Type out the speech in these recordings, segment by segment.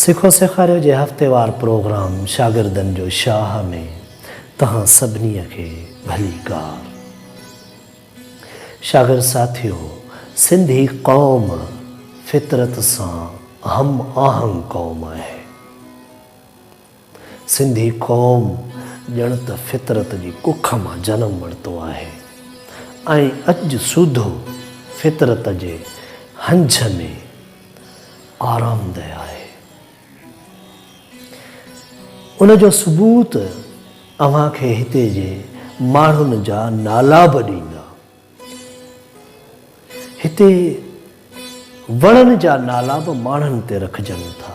سکو سيکاريو جي هفتيوار پروگرام شاگردن جو شاهه ۾ توهان سڀني کي ڀليڪار. شاگرد ساٿيو! سنڌي قوم فطرت سان هم آهنگ قوم آهي. سنڌي قوم ڄڻ ته فطرت جي ڪک مان جنم ورتو آهي ۽ اڄ سوڌو فطرت جي هنج ۾ آرامده آهي. ان جو ثبوت اوهان کي هتي جي ماڻهن جا نالا به ڏيندا. هتي وڻن جا نالا به ماڻهن تي رکجن ٿا،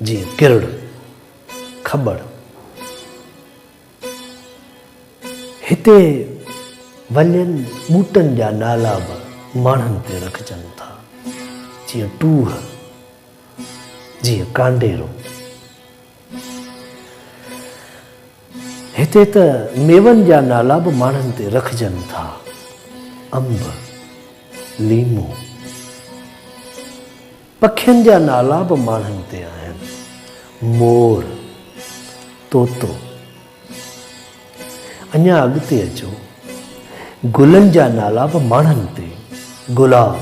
جيئن ڪرڙ، کٻڙ. هتي ولين ٻوٽن جا نالا به ماڻهن تي رکجن ٿا، جيئن ٽوهه، جيئن ڪانڊيرو. هتي ته ميون جا نالا به ماڻهن تي رکجن ٿا، انب، ليمو. پکين جا نالا به ماڻهن تي آهن، مور، طوطو. اڃا اڳتي اچو، گلن جا نالا به ماڻهن تي، گلاب،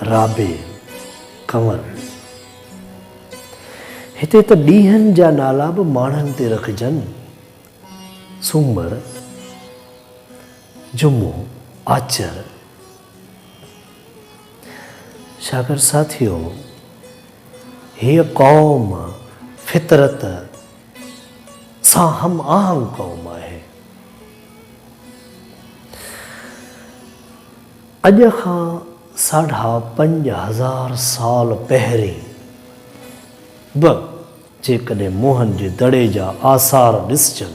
رابيل، ڪنول. هتي ته ڏينهن جا نالا به ماڻهن تي رکجن، سومر، جمعو، آچر. شاڪر ساٿيو! هيء قوم فطرت سان هم آهنگ قوم آهي. اڄ کان ساڍا پنج هزار سال پهرين به جيڪڏهن موهن جي دڙي جا آثار ڏسجن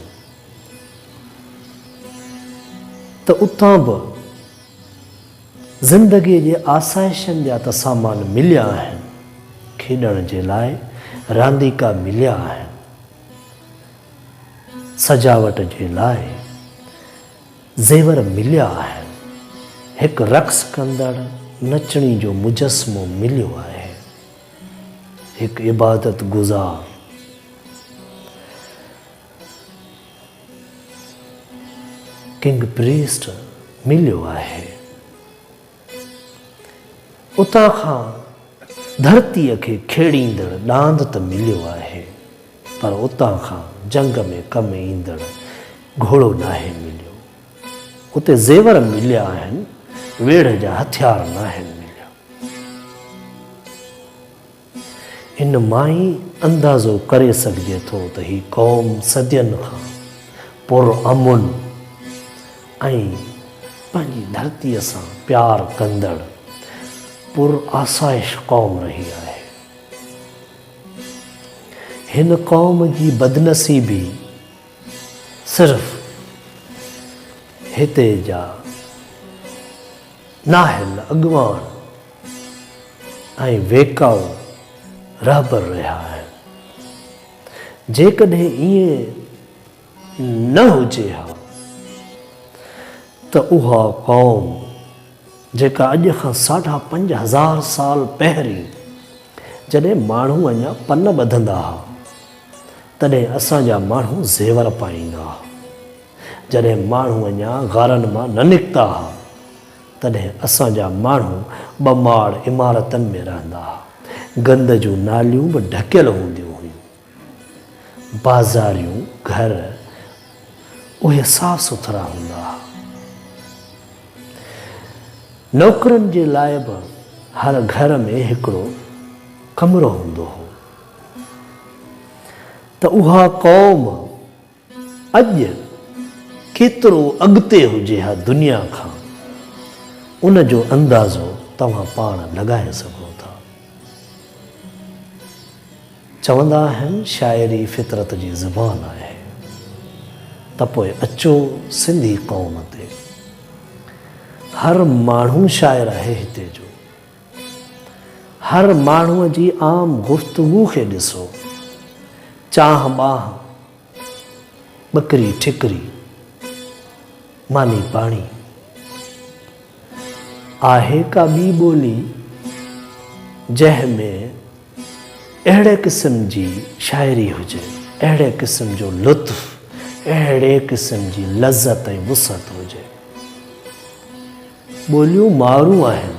ته اتان به زندگي جي آسائشن جا ته سامان مليا آهن، کيڏڻ جي لاء رانديڪا مليا آهن، سجاوٽ جي لاء. زيور مليا آهن. هڪ رقص ڪندڙ نچڻي جو مجسمو مليو آهي. هڪ عبادت گذار. ڪنگ پريسٽ مليو آهي. اتان کان ڌرتيء کي کيڙيندڙ ڏاند ته مليو آهي، پر اتان کان جنگ ۾ ڪم ايندڙ گهوڙو ناهي مليو. اتي زيور مليا آهن، ويڙهه جا هٿيار ناهن مليا. ان مان ئي اندازو ڪري سگهجي ٿو ته هي قوم صدين کان پرامن ۽ پنهنجي ڌرتيء سان پيار ڪندڙ پرآسائش قوم رهي آهي. هن قوم جي بدنصيبي صرف هتي جا نااهل اڳواڻ ۽ ويڪائو رهبر رهيا آهن. جيڪڏهن ائين نه هجي ها ته اها قوم جيڪا اڄ کان ساڍا پنج هزار سال پهرين جڏهن ماڻهو اڃا پن ٻڌندا ها تڏهن اسان جا ماڻهو زيور پائيندا ها جڏهن ماڻهو اڃا غارن مان نه نڪتا ها تڏهن اسان جا ماڻهو ٻه ماڙ عمارتن ۾ رهندا ها. گند جون ناليون به ڍڪيل هونديون هيون. بازاريون گهر اهي صاف سٿرا هوندا ها. نوڪرن جي لاء به هر گهر ۾ هڪڙو ڪمرو هوندو هو ته اها قوم، اڄ ڪيترو اڳتي هجي ها دنيا کان، ان جو اندازو توهان پاڻ لڳائي سگهو ٿا. چوندا آهن شاعري فطرت جي زبان آهي ته پوء اچو سنڌي قوم تي. هر ماڻهو شاعر آهي هتي جو. هر ماڻهوء جي عام گفتگو کي ڏسو. چانهه ٻانهه، ٻڪري ٺڪري، ماني پاڻي. آهي ڪا ٻي ٻولي جنهن ۾ اهڙي قسم جي شاعري هجي، اهڙي قسم جو لطف، اهڙي قسم جي لذت ۽ وسعت هجي. ٻوليون مارون آهن.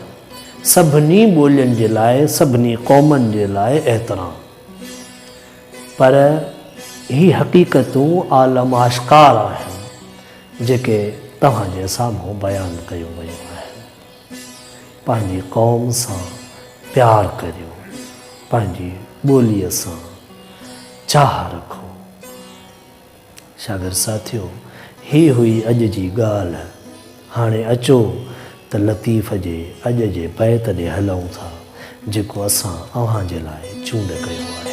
سڀني ٻولين جي لاء سڀني قومن جي لاء احترام. پر هي حقيقتون عالم آشڪار آهن جيڪي توهان جي سامهون بيان ڪيون ويون آهن. پنهنجي قوم سان پيار ڪريو، پنهنجي ٻوليء سان چاهه رکو. شاگرد ساٿيو! هي هئي اڄ جي ڳالهه. هاڻي اچو ته لطيف جي اڄ جي بيت ڏي هلئون ٿا، جيڪو اسان اوهان جي لاء چونڊ ڪيو آهي.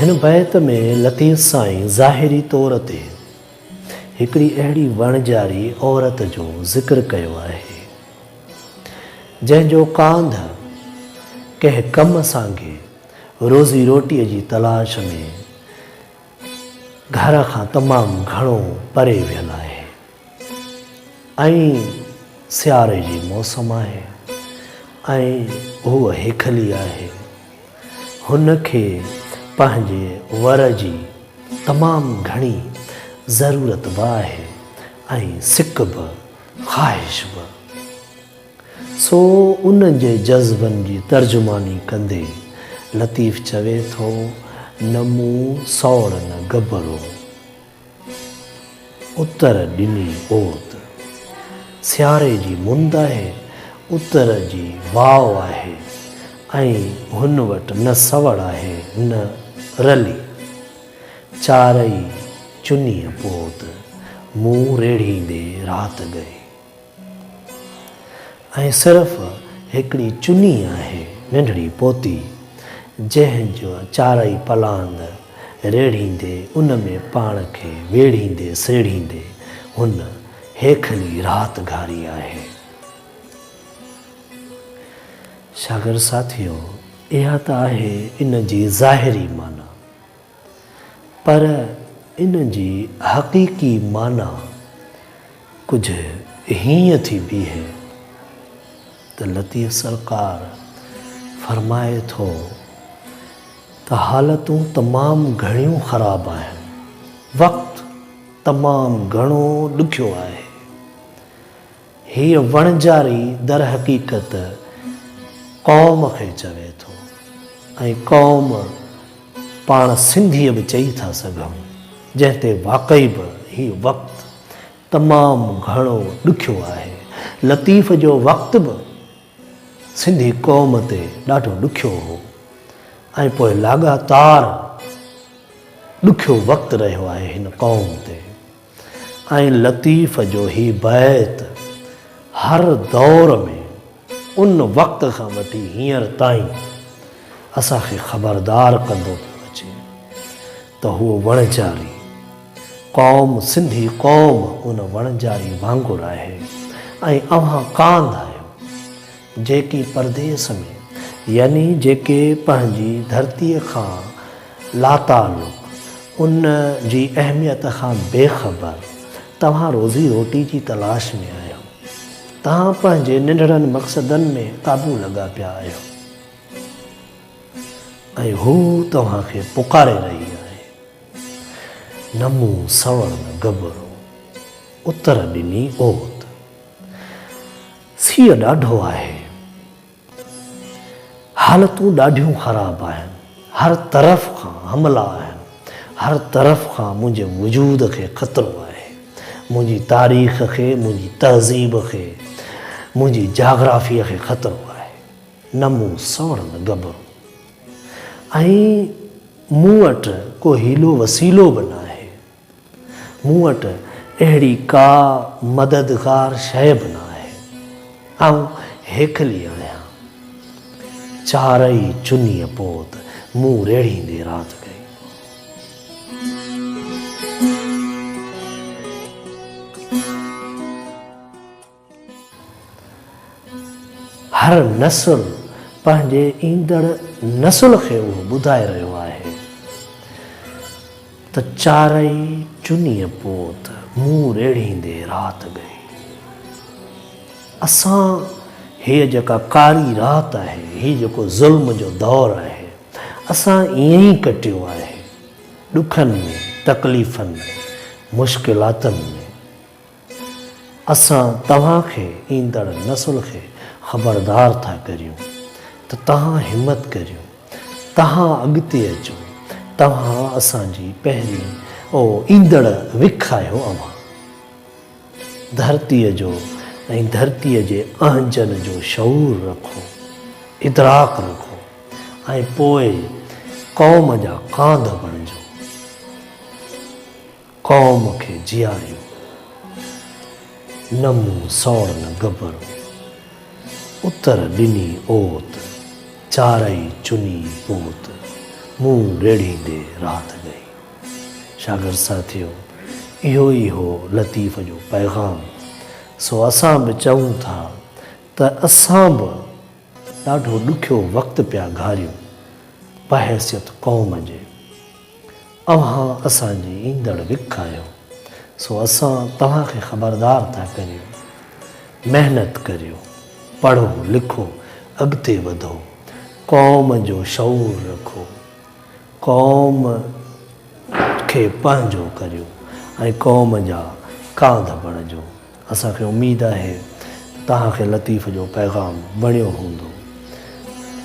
هن بيت ۾ لطيف سائين ظاهري طور تي هڪڙي اهڙي وڻجاري عورت جو ذڪر ڪيو آهي، جنهن جو ڪانڌ ڪنهن ڪم سانگي روزي روٽيء جي تلاش ۾ گهر کان تمام گهڻو پري ويل آهي. ائين سياري جي موسم آهي ۽ هوء هيکلي آهي. هن کي پنهنجي ور جي تمام گهڻي ضرورت به آهي ۽ سڪ به، خواهش به. سو ان جي جذبن جي ترجماني ڪندي لطيف چوي ٿو، نه مون سوڙ نه گبرو. اتر ڏني اوت سياري جي مند آهي، اتر جي واء آهي ۽ هن وٽ نه سوڙ آهي نه رلي. چارئي چنيء پوت مون ريڙهيندي رات ڳئي. ۽ صرف هڪڙي چني آهي ننڍڙي پوتي، جنهن جو چارئي پلاند ريڙهيندي ان ۾ پاڻ کي ويڙهيندي سيڙهيندي هن هيکلي رات گهاري آهي. شاگرد ساٿيو! اها ته آهي ان جي ظاهري معنيٰ. پر ان جي حقيقي معنيٰ ڪجهه هيئن ٿي بيهي ته لطيف سرڪار فرمائي ٿو ته حالتون تمام گهڻيون خراب آهن، وقت تمام گهڻو ڏکيو آهي. هيء وڻجاري درحقيقت قوم کي چوي ٿو ۽ قوم پاڻ سنڌيء به چئي ٿا سگهون، جنهن تي واقعي به هي وقت تمام گهڻو ڏکيو آهي. لطيف جو وقت به سنڌي قوم تي ڏاڍو ڏکيو هو ۽ پوء لاڳاتار ڏکيو وقت رهيو آهي هن قوم تي. ۽ لطيف جو هي بيت هر دور ۾ ان وقت کان وٺي هينئر تائين اسان کي خبردار ڪندو پيو اچي ته هو وڻجاري قوم سنڌي قوم ان وڻجاري وانگر آهي ۽ اوهان ڪانڌ آهيو. جيڪي پرديس ۾، يعني جيڪي پنهنجي ڌرتيء کان لاتعلق، ان جي اهميت کان بي خبر، توهان روزي روٽي جي تلاش ۾ آهيو. توهان پنهنجي ننڍڙن مقصدن ۾ قابو لڳا پيا آهيو ۽ هو توهان کي پڪاري رهي آهي. نمو سوڻ گبرو، اتر ڏني اوت. سيء ڏاڍو آهي. حالتون ڏاڍيون خراب آهن. هر طرف کان حملا آهن. هر طرف کان منهنجي وجود کي خطرو آهي. منهنجي تاريخ کي، منهنجي تهذيب کي، منهنجي جاگرافيء کي خطرو آهي. نه مون سوڻ نه گڀرو. ۽ مون وٽ ڪو حيلو وسيلو به ناهي. مون وٽ اهڙي ڪا مددگار شيء به نه آهي. آئون هيڪلي آهيان. چارئي چنيء پوت منهن ريڙهيندي رات ڪئي. هر نسل پنهنجي ايندڙ نسل کي اهو ٻڌائي رهيو آهي ته چارئي چنيء پوت مون ريڙهيندي رات ڳئي. اسان هيء جيڪا ڪاري رات آهي، هي جيڪو ظلم جو دور آهي، اسان ائين ئي ڪٽيو آهي، ڏکن ۾، تڪليفن ۾، مشڪلاتن ۾. اسان توهان کي ايندڙ نسل کي خبردار ٿا ڪريون ته توهان همت ڪريو، توهان اڳتي اچو، توهان اسان جي پهرين ۽ ايندڙ وک آهيو اوهان ڌرتيء جو ۽ ڌرتيء جي اهنجن جو شعور رکو، ادراڪ رکو ۽ پوء قوم جا ڪانڌ بڻجو. قوم کي جياريو نه مون سوڻ نه گبرو. اتر ڏني اوت، چارئي چني پوت، مون ريڙهيندي رات ڳئي. شاگرد ساٿيو! اهو ئي هو لطيف جو پيغام. سو اسان به چئون ٿا ته اسان به ڏاڍو ڏکيو وقت پيا گهاريون بحيثيت قوم جي. اوهان اسان جي ايندڙ وک آهيو، سو اسان توهان کي خبردار ٿا ڪريون، محنت ڪريو، پڙهو لکو، اڳتي وڌو، قوم جو شعور رکو، قوم کي پنهنجو ڪريو ۽ قوم جا ڪانڌ بڻجو. اسان کي اميد آهي ته توهان کي لطيف جو پيغام وڻيو هوندو.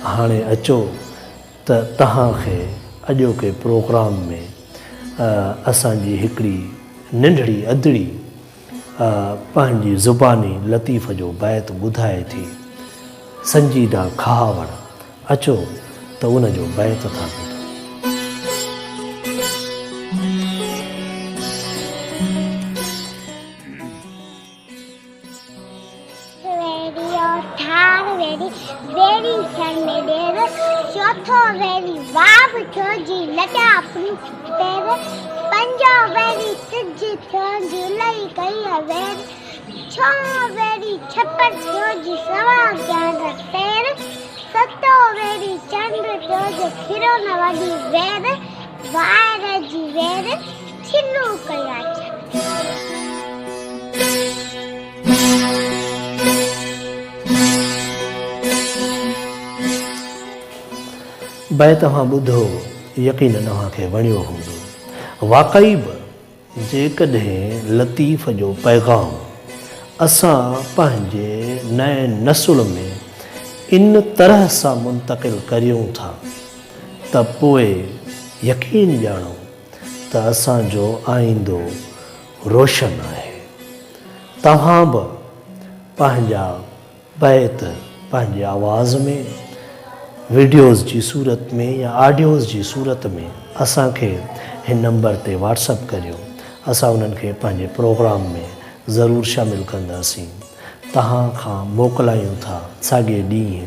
هاڻي اچو ته توهان کي اڄوڪي پروگرام ۾ اسان جي هڪڙي ننڍڙي ادڙي پنهنجي زباني لطيف جو بيت ٻڌائي ٿي، سنجيده کهاوڙ، اچو ته ان جو بيت ٿا ٻڌون. ويريو ٿار ويري ويري سر ۾ ڏير چوٿو ويري واب ٿيو جي لڏا پنج پير پنجو ويري سج ٿيو جي لئي ڪئي وير ڇو ويري ڇپر ٿيو جي سوا جان پير ستو ويري چنڊ ٿيو جي کيرو نه وڏي وير وائر جي وير شروع ڪيو آهي. به توهان ٻڌو يقينن اوهان کي وڻيو هوندو. واقعي به جيڪڏهن لطيف جو پيغام اسان پنهنجي نئين نسل ۾ ان طرح سان منتقل ڪريون ٿا ته پوء يقين ڄاڻو ته اسان جو آئيندو روشن آهي. توهان به پنهنجا بيت پنهنجي آواز ۾ وڊيوز جي صورت ۾ يا آڊيوز جي صورت ۾ اسان کي هن نمبر تي واٽس اپ ڪريو اسان انهن کي پنهنجي پروگرام ۾ ضرور شامل ڪنداسين. توهان کان موڪلايون ٿا ساڳئي ڏينهن.